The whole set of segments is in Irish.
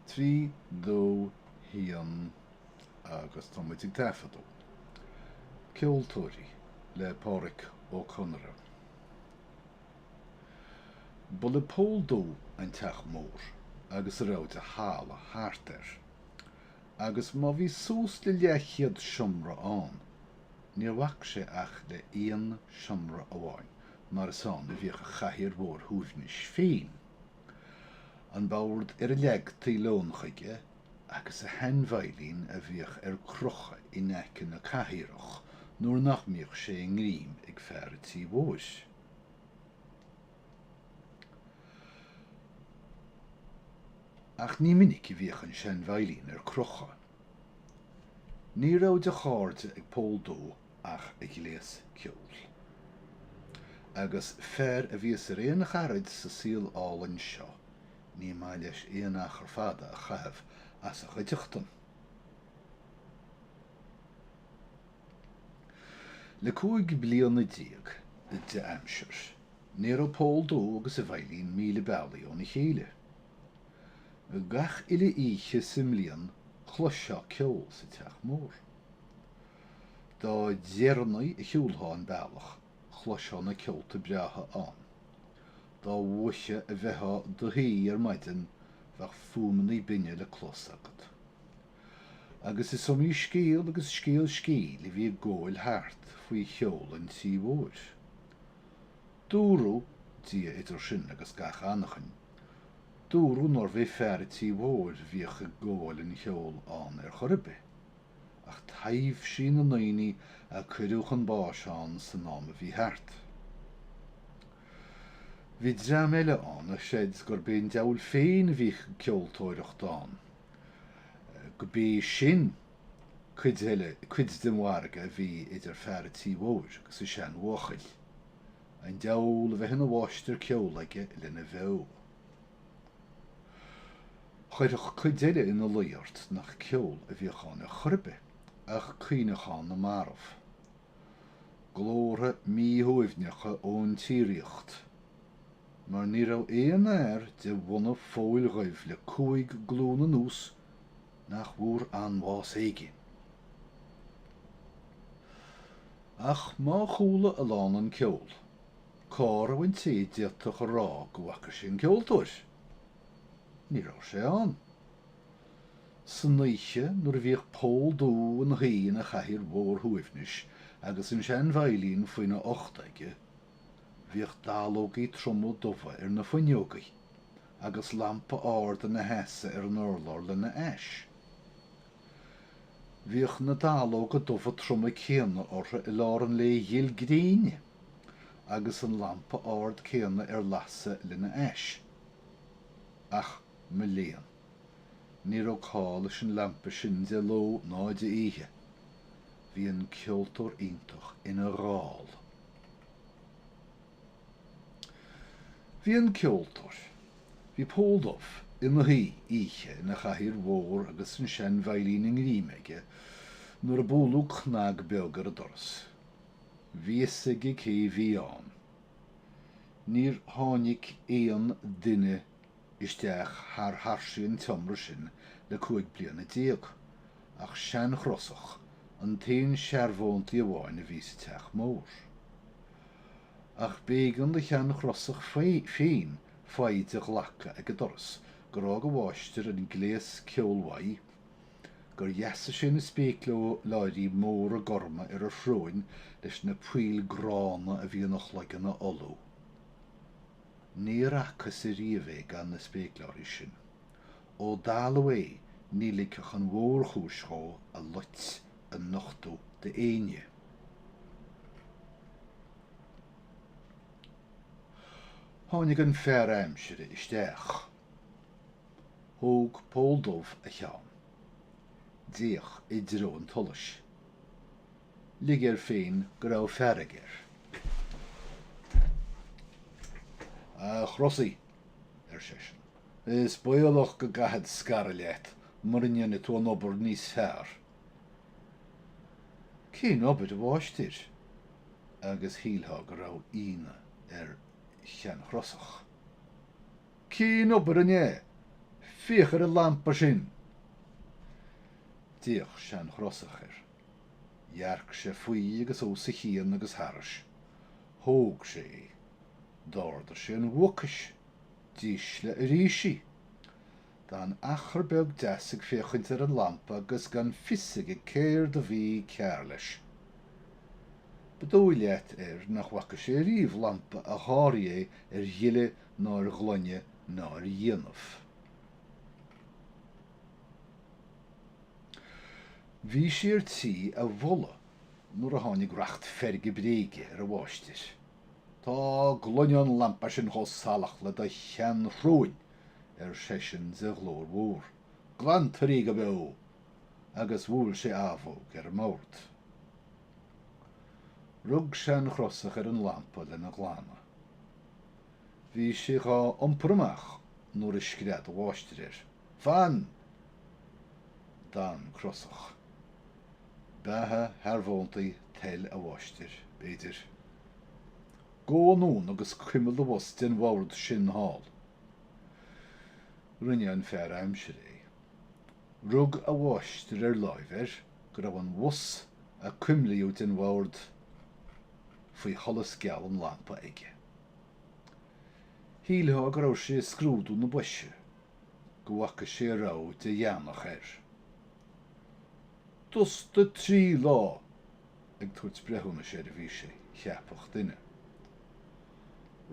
trí dó haon agus tá muid ag taifeadadh. Ceoltóirí le Pádraic Ó Conaire. Ba le Pól Dubh an teach mór agus a raibh de thalamh thart air, agus má bhí suas le leathchéad seomra ann, níor bhac sé ach le haon seomra amháin mar is ann a bhíodh a chathaoir mhór shuaimhnis féin, an bord ar a leagtaí lón chuige agus a shean-veidhlín a bhíodh ar crochadh in aice na cathaoireach nuair nach mbíodh sé i ngreim ag fear a' tí mhóir. Ach ní minic a bhíodh an sean-veidhlín ar crochadh. Ní raibh de chairde ag Pól Dubh ach a ghléas ceoil. Agus fear a bhíos ar aon charaid sa saol álainn seo, ní maith leis aon achar fada a chaitheamh as a chuideachtain. Le cúig bliana déag de aimsir, ní raibh Pól Dubh agus a veidhlín míle bealaigh óna chéile. Gach uile oíche sa mbliain chloisfeá ceol sa teach mór. Dá deireanaí a shiúlfá an bealach, chloisfeá na ceolta breátha ann. Dá mhoiche a bheifeá i do shuí ar maidin, bheadh fuaimeannaí binne le clos agat. Agus is iomaí scéal agus scéal scéil a bhí ag gabháil thart faoi cheol an Tí Mhóir. Dúradh, Dia idir sinn agus gach anachain, dúradh nárbh é fear an Tí Mhóir a bhíodh ag gabháil an cheoil ann ar chor ar bith. ach taibhsí na ndaoine a cuireadh chun báis ann san am a bhí thart. Bhí dream eile ann a chreid gurb é an diabhal féin a bhíodh ag ceoltóireacht ann, go b'é sin cuid eile, cuid den mhargadh a bhí idir fear a' tí mhóir agus an seanbhuachaill, an diabhal a bheith ina mháistir ceoil aige lena bheo. Chuirfeadh cuid eile ina luí ort nach ceol a bhíodh ann ar chor ar bith ach caoineachán na marbh. Glórtha míshuaimhneacha ón tsíoraíocht. Mar ní raibh aon fhear de bhunadh Phóil Dhuibh le cúig glún anuas nach bhfuair anbhás éigin. Ach má chuala a lán an ceol. Cá raibh an té a d'fhéadfadh a rá go bhfaca sé an ceoltóir? Ní raibh sé ann. San oíche nuair a bhíodh Pól Dubh ina shuí ina chathaoir mhór shuaimhnis agus an sean-veidhlín faoina ucht aige, bhíodh dallógaí troma dubha ar na fuinneogaí, agus lampa ard ina sheasamh ar an urlár lena ais. Bhíodh na dallóga dubha troma céanna orthu i lár an lae ghil gréine agus an lampa ard céanna ar lasadh lena ais. Ach mo léan! Ní raibh call leis an lampa sin de ló ná de oíche. Bhí an ceoltóir iontach ina dhall. Bhí an ceoltóir. Bhí Pól Dubh ina shuí oíche ina chathaoir mhór agus an sean-veidhlín i ngreim aige nuair a bualadh cnag beag ar an doras. Bhí fhios aige cé bhí ann. Níor tháinig aon duine isteach thar thairsigh an tseomra sin le cúig bliana déag, ach Sean-Chrosach an t-aon searbhóntaí amháin a bhí sa teach mór. Ach b'éigean do Shean-Chrosach féin foighid a ghlacadh ag an doras gur fhág a mháistir an gléas ceoil uaidh, gur dheasaigh sé na spéacláirí móra gorma ar a shróin leis na poill gránna a bhí ina chloigeann a fholú. Níor fhacthas ariamh é gan na spéacláirí sin. Ó dalladh é ní ligfeadh an mhórchúis dhó a loit a nochtadh d'éinne. Tháinig an fear aimsire isteach. Thóg Pól Dubh a cheann. D'fhéach i dtreo an tsolais. lig air féin go raibh fearg air. A Chrosaigh, ar seisean, is baolach go gcaithfead scaradh leat mura ndéanfaidh tú an obair níos fearr. Cén obair, a mháistir? agus shílfeá go raibh ionadh ar Shean-Chrosach. Cén obair an ea? Féach ar an lampa sin! D'fhéach Sean-Chrosach air. Dhearc sé faoi agus os a chionn agus tharais. Thóg sé é. D'ardaigh sé an bhuaicis. D'ísligh arís í. D'fhan achar beag deas ag féachaint ar an lampa agus gan fios aige céard a bhí cearr leis. Ba dóigh leat air nach bhfaca sé ariamh lampa a sháraigh é ar ghile ná ar ghlaine ná ar dhéanamh. Bhí sé ar tí a mholadh nuair a tháinig racht feirge bréige ar a mháistir. Tá gloine an lampa sin chomh salach le do sheanshróin, ar seisean de ghlór mhór. Glantar í go beo! Agus bhuail sé abhóg ar an mbord. Rug Sean-Chrosach ar an lampa lena glanadh. Bhí sé dhá iompar amach nuair a scread a mháistir air. Fan! D'fhan Crosach. Beatha shearbhóntaí toil a mháistir, b'fhéidir. Gabh anonn agus cuimil do bhos den bhord sin thall. Rinne an fear aimsire é. Rug a mháistir ar láimh air go raibh an bhos a cuimlíodh den bhord faoi sholas geal an lampa aige. Shílfeá go raibh sé ag scrúdú na boise go bhfaca sé a raibh de dheannach air. Dusta trí lá! Ag tabhairt breithiúnais air a bhí sé, cheapfadh duine.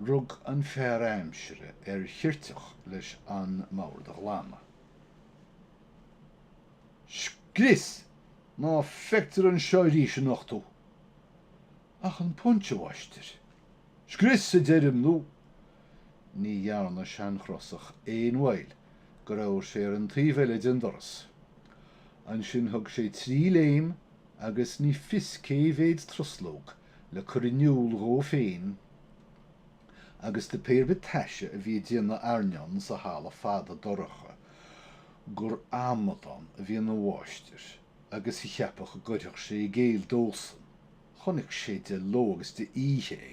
Rug an fear aimsire ar cheirteach leis an mbord a ghlanadh. Scrios! Ná feictear anseo arís anocht thú! ach an puins, a mháistir. Scrios a deirim nó ní dhearna Sean-Chrosach aon mhoill go raibh sé ar an taobh eile den doras. Ansin thug sé trí léim agus ní fios cé mhéad truslóg le cur in iúl dhó féin agus do pé ar bith taise a bhí ag déanamh airneáin sa halla fada dorcha gur amadán a bhí ina mháistir. agus a cheapadh go gcuirfeadh sé i gcéill dósan, chonaic sé de ló agus d'oíche é,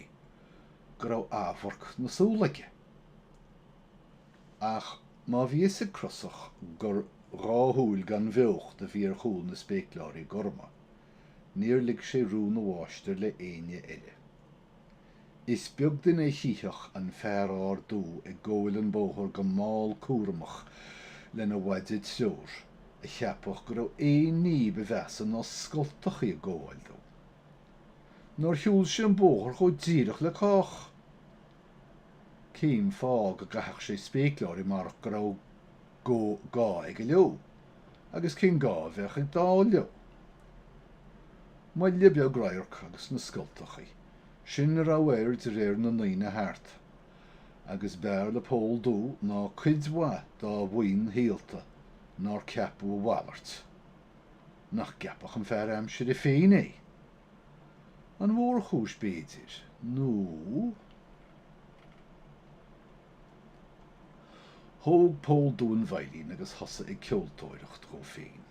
go raibh amharc na súl aige. Ach má bhí a fhios ag Crosach gur dhá shúil gan bheocht a bhí ar chúl na spéacláirí gorma, níor lig sé rún a mháistir le éinne eile. Is beag duine a chífeadh an fear ard dubh ag gabháil an bóthar go mall cúramach lena mhaide treoir, a cheapfadh go raibh aon ní ba mheasa ná scoltachaí ag gabháil dó. Nár shiúl sé an bóthar chomh díreach le cách! Cén fáth go gcaithfeadh sé spéacláirí marach go raibh. gá aige leo agus cén gá a bheadh ag dall leo. Moille beag radhairc agus na scoltachaí sin a raibh air de réir na ndaoine thart, agus b'fhearr le Pól Dubh ná cuid mhaith dá mhaoin shaolta nár ceapadh a mhalairt. Nach gceapfadh an fear aimsire féin é! An mhórchúis, b'fhéidir, nó. Thóg Pól Dubh an veidhlín agus thosaigh ag ceoltóireacht dhó féin.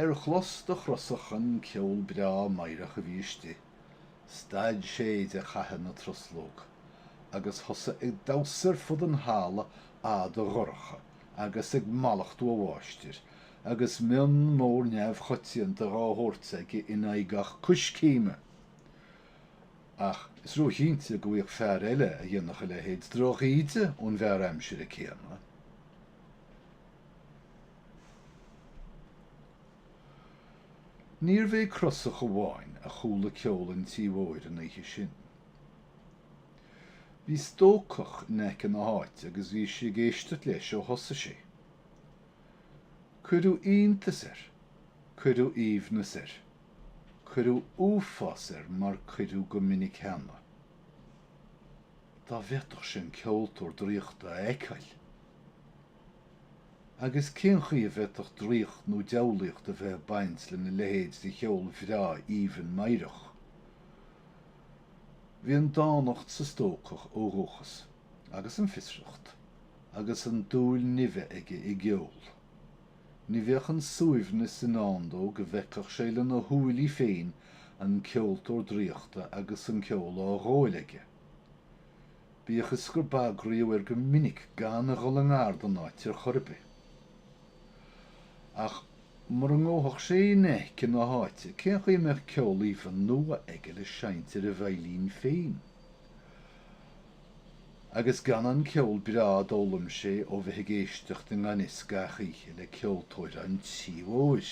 Ar chlos do Chrosach an ceol breá meidhreach a bhí istigh, stad sé de chaitheamh na truslóg agus thosaigh ag damhsa ar fud an halla fhada dhorcha agus ag mallachtú a mháistir, agus mionn mór neamhchoitianta dhá thabhairt aige in aghaidh gach coiscéime! ach is róchinnte go bhfaigheadh fear eile a dhéanfadh a leithéid drochíde ón bhfear aimsire céanna. Níorbh é Crosach amháin a chuala ceol an Tí Mhóir an oíche sin. Bhí stócach in aice na háite agus bhí sé ag éisteacht leis ó thosaigh sé. Cuireadh iontas air. Cuireadh aoibhneas air. Cuireadh uafás air mar cuireadh go minic cheana. Dá bhféadfadh sé an ceoltóir draíochta a fheiceáil! Agus cén chaoi a bhféadfadh draíocht nó diabhlaíocht a bheith ag baint lena leithéid de cheol bhreá aoibhinn meidhreach? Bhí an dánacht sa stócach ó dhúchas, agus an fiosracht, agus an dúil nimhe aige i gceol. Ní bheadh an suaimhneas i ndán dó go bhfeicfeadh sé lena shúile féin an ceoltóir draíochta agus an ceol á ghabháil aige. Bíodh is gur bagraíodh air go minic gan a dhul i ngar don áit ar chor ar bith. Ach mura ngabhfadh sé in aice na háite, cén chaoi a mbeadh ceol aoibhinn nua aige le seinnt ar a veidhlín féin? Agus gan an ceol breá a d'fhoghlaim sé ó bheith ag éisteacht i ngan fhios gach oíche le ceoltóir an tí mhóir!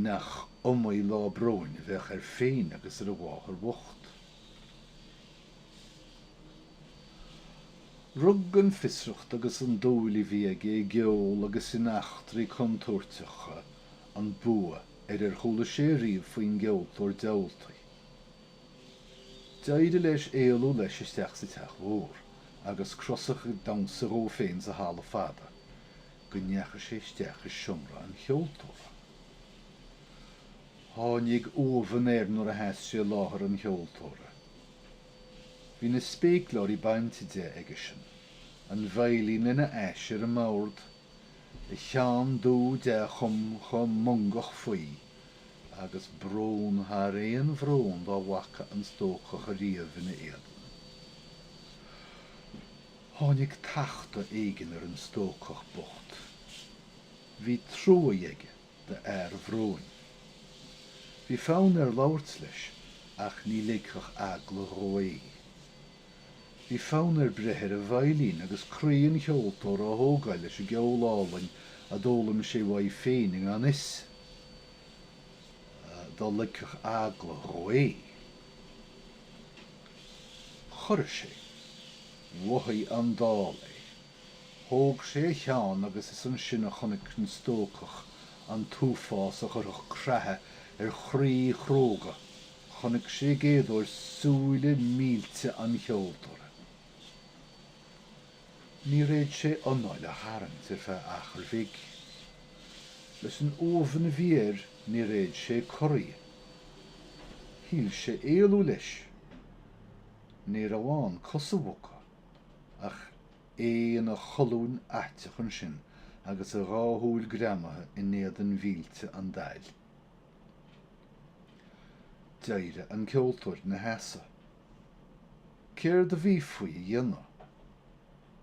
Nach iomaí lá bróin a bheadh air féin agus ar a mháthair bhocht. Rug an fiosracht agus an dúil a bhí aige i gceol agus in eachtraí contúirteacha an bua ar ar chuala sé ariamh faoin gceoltóir diabhaltaí. D'éirigh leis éalú leis isteach sa teach mhór agus Crosach ag damhsa dhó féin sa halla fada go ndeachaigh sé isteach i seomra an cheoltóra. Tháinig uamhan air nuair a sheas sé i láthair an cheoltóra. Bhí na spéacláirí bainte de aigesean, an veidhlín lena ais ar an mbord, a cheann dubh dea-chumtha mongach faoi, agus brón thar aon bhrón dá bhfaca an stócach ariamh ina éadan. Tháinig tachtadh éigin ar an stócach bocht. Bhí trua aige do fhear an bhróin. Bhí fonn air labhairt leis ach ní ligfeadh eagla dhó é. Bhí fonn air breith ar an veidhlín agus croí an cheoltóra a thógáil leis an gceol álainn a d'fhoghlaim sé uaidh féin i ngan fhios dá ligfeadh eagla dhó é. Chorraigh sé. Mhothaigh an dall é. Thóg sé a cheann agus is ansin a chonaic an stócach an t-uafás a chuirfeadh creathadh ar chroí chróga Chonaic sé i gcéadóir súile millte an cheoltóra. Níor fhéad sé anáil a tharraingt ar feadh achair bhig. Leis an uamhan a bhí air níor fhéad sé corraí. Shíl sé éalú leis. Ní raibh ann cos a bhogadh, ach é ina cholún fhaiteach ansin agus a dhá shúil greamaithe in éadan mhillte an daill. D'éirigh an ceoltóir ina sheasamh. Céard a bhí faoi a dhéanamh?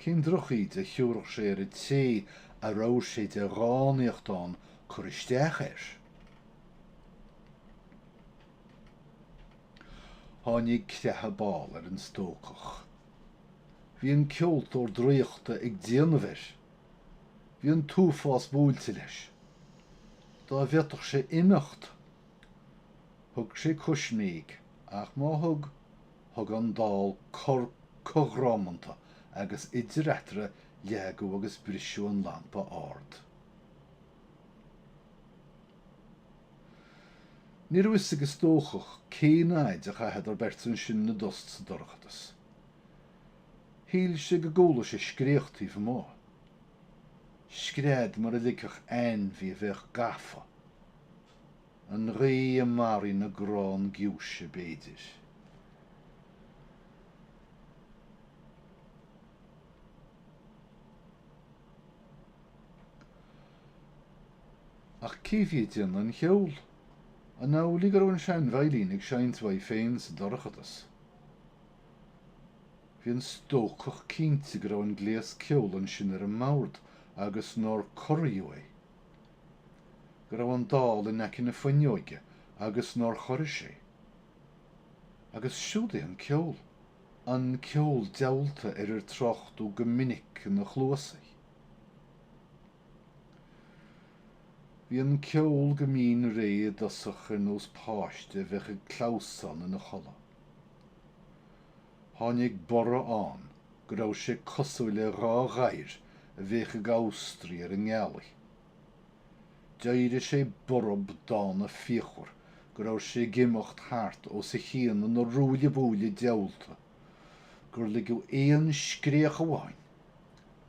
Cén drochíde a thiúrfadh sé ar an té a raibh sé de dhánaíocht ann cur isteach air? Tháinig creathadh ball ar an stócach. Bhí an ceoltóir draíochta ag déanamh air! Bhí an t-uafás buailte leis. Dá bhféadfadh sé imeacht, thug sé coisméig, ach má thug, thug an dall cor cothrománta agus idir eatarthu leagadh agus briseadh an lampa ard. Ní raibh fhios ag an stócach cén fhaid a chaitheadar beirt ansin 'na dtost sa dorchadas. Shíl sé go gcuala sé scréach taobh amuigh. Scread mar a ligfeadh ainmhí a bheadh gafa. An ghaoth i mbarraí na gcrann giúise, b'fhéidir. Ach cé bhí ag déanamh an cheoil? An amhlaidh go raibh an seanveidhlín ag seinnt uaidh féin sa dorchadas? Bhí an stócach cinnte go raibh an gléas ceoil ansin ar an mbord agus nár corraíodh é, go raibh an dall in aice na fuinneoige agus nár chorraigh sé. Agus siúd é an ceol. An ceol diabhalta ar ar tráchtadh go minic ina chluasa. Bhí an ceol go mín réidh i dtosach ar nós páiste a bheadh ag clamhsán ina chodladh. Tháinig borradh ann go raibh sé cosúil le dhá ghadhar a bheadh ag amhastraigh ar an ngealaigh. D'éirigh sé borb dána fíochmhar go raibh sé ag imeacht thart os a chionn ina ruaille buaille diabhalta, gur ligeadh aon scréach amháin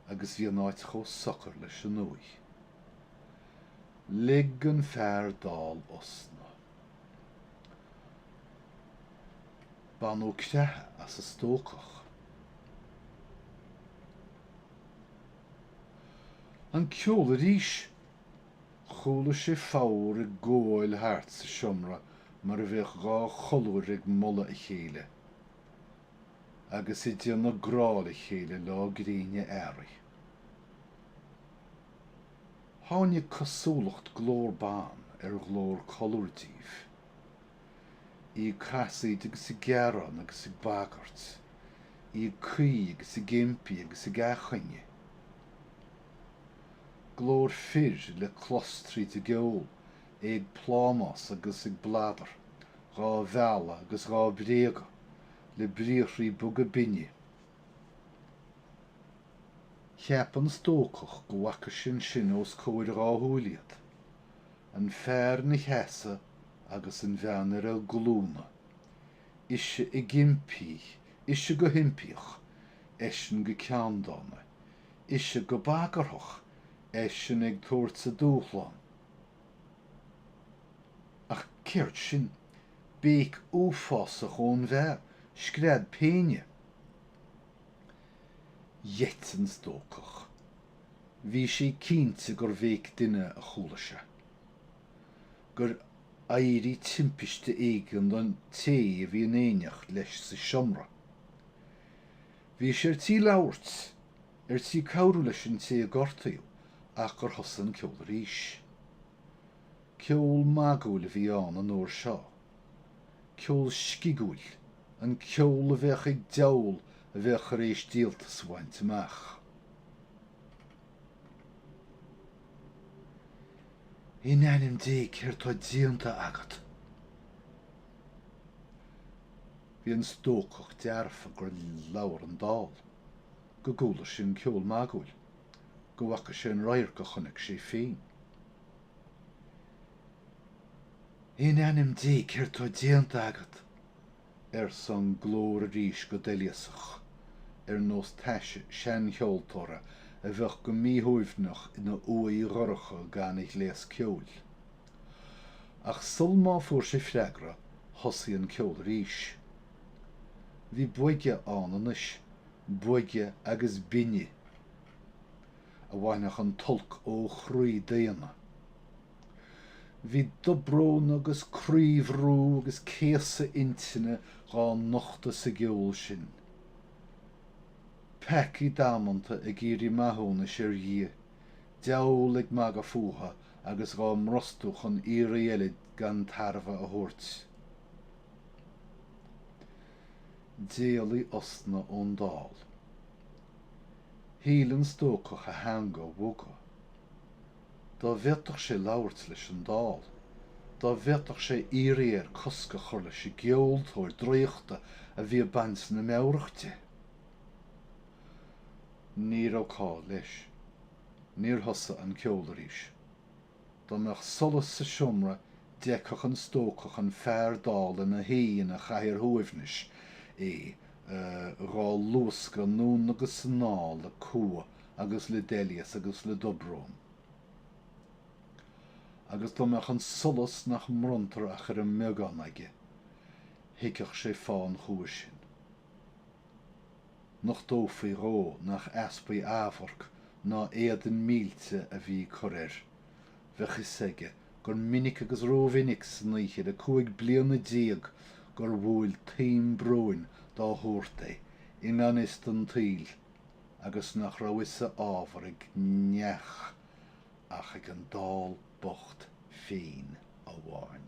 agus bhí an áit chomh socair leis an uaigh. Lig an fear dall osna. Baineadh creathadh as an stócach. An ceol arís! Chuala sé foghar ag gabháil thart sa seomra mar a bheadh dhá cholúr ag moladh a chéile agus ag déanamh grá le chéile lá gréine earraigh. Tháinig cosúlacht glór ban ar ghlór colúr díobh, í ag casaoid agus ag gearán agus ag bagairt, í ag caoi agus ag impí agus ag athchuinge. Glór fir le clos tríd an gceol, é ag plámás agus ag bladar, dhá mhealladh agus dhá bréagadh, le briathraí boga binne, Cheap an stócach go bhfaca sé ansin os comhair a dhá shúil iad, an fear ina sheasamh agus an bhean ar a glúna, ise ag impí, ise go himpíoch, eisean go ceanndána, ise go bagarthach, eisean ag tabhairt a dúshlán, Ach céard sin? Béic uafásach ón bhfear, scread péine. Gheit an stócach. Bhí sé cinnte gur bhéic duine a chuala sé. Gur éirigh timpiste éigin don té a bhí in éineacht leis sa seomra. Bhí sé ar tí labhairt ar tí cabhrú leis an té a gortaíodh ach gur thosaigh an ceol arís. Ceol magúil a bhí ann an uair seo, ceol scigiúil, an ceol a bheadh ag diabhal a bheadh tar éis díoltas a bhaint amach. In ainm Dé, céard tá déanta agat? Bhí an stócach dearfa gur labhair an dall. go gcuala sé an ceol magúil, go bhfaca sé an radharc a chonaic sé féin. In ainm Dé, céard tá déanta agat? arsa an glór arís go doilíosach, ar nós taise seancheoltóra a bheadh go míshuaimhneach ina uaigh dhorcha gan a ghléas ceoil. Ach sul má fuair sé freagra, thosaigh an ceol arís. Bhí boige ann anois, boige agus binne, a bhainfeadh an t-olc ó chroí daonna. Bhí dobrón agus croíbhrú agus céasadh intinne dhá nochtadh sa gceol sin. Peacaigh damanta ag iarraidh maithiúnais ar Dhia, deabhal ag magadh fúthu agus dhá mbrostú chun iarraidh eile gan tairbhe a thabhairt. D'éalaigh osna ón dall. Shíl an stócach a theanga a bhogadh. Dá bhféadfadh sé labhairt leis an dall! Dá bhféadfadh sé iarraidh air cosc a chur leis an gceoltóir draíochta a bhí ag baint na meabhrach de! Ní raibh call leis. Níor thosaigh an ceol arís. Dá mbeadh solas sa seomra d'fheicfeadh an stócach an fear dall ina shuí ina chathaoir shuaimhnis, é dhá luascadh anonn agus anall le cumha agus le doilíos agus le dobrón. Agus dá mbeadh an solas nach mbronntar ach ar an mbeagán aige, thuigfeadh sé fáth an chumha sin. nochtófaí dhó nach easpa amhairc ná éadan millte a bhí ag cur air. Bheadh fhios aige gur minic agus rómhinic san oíche le cúig bliana déag gur bhuail taom bróin dá shórt é, i ngan fhios don tsaol, agus nach raibh fhios a ábhar ag neach ach ag an dall bocht féin amháin.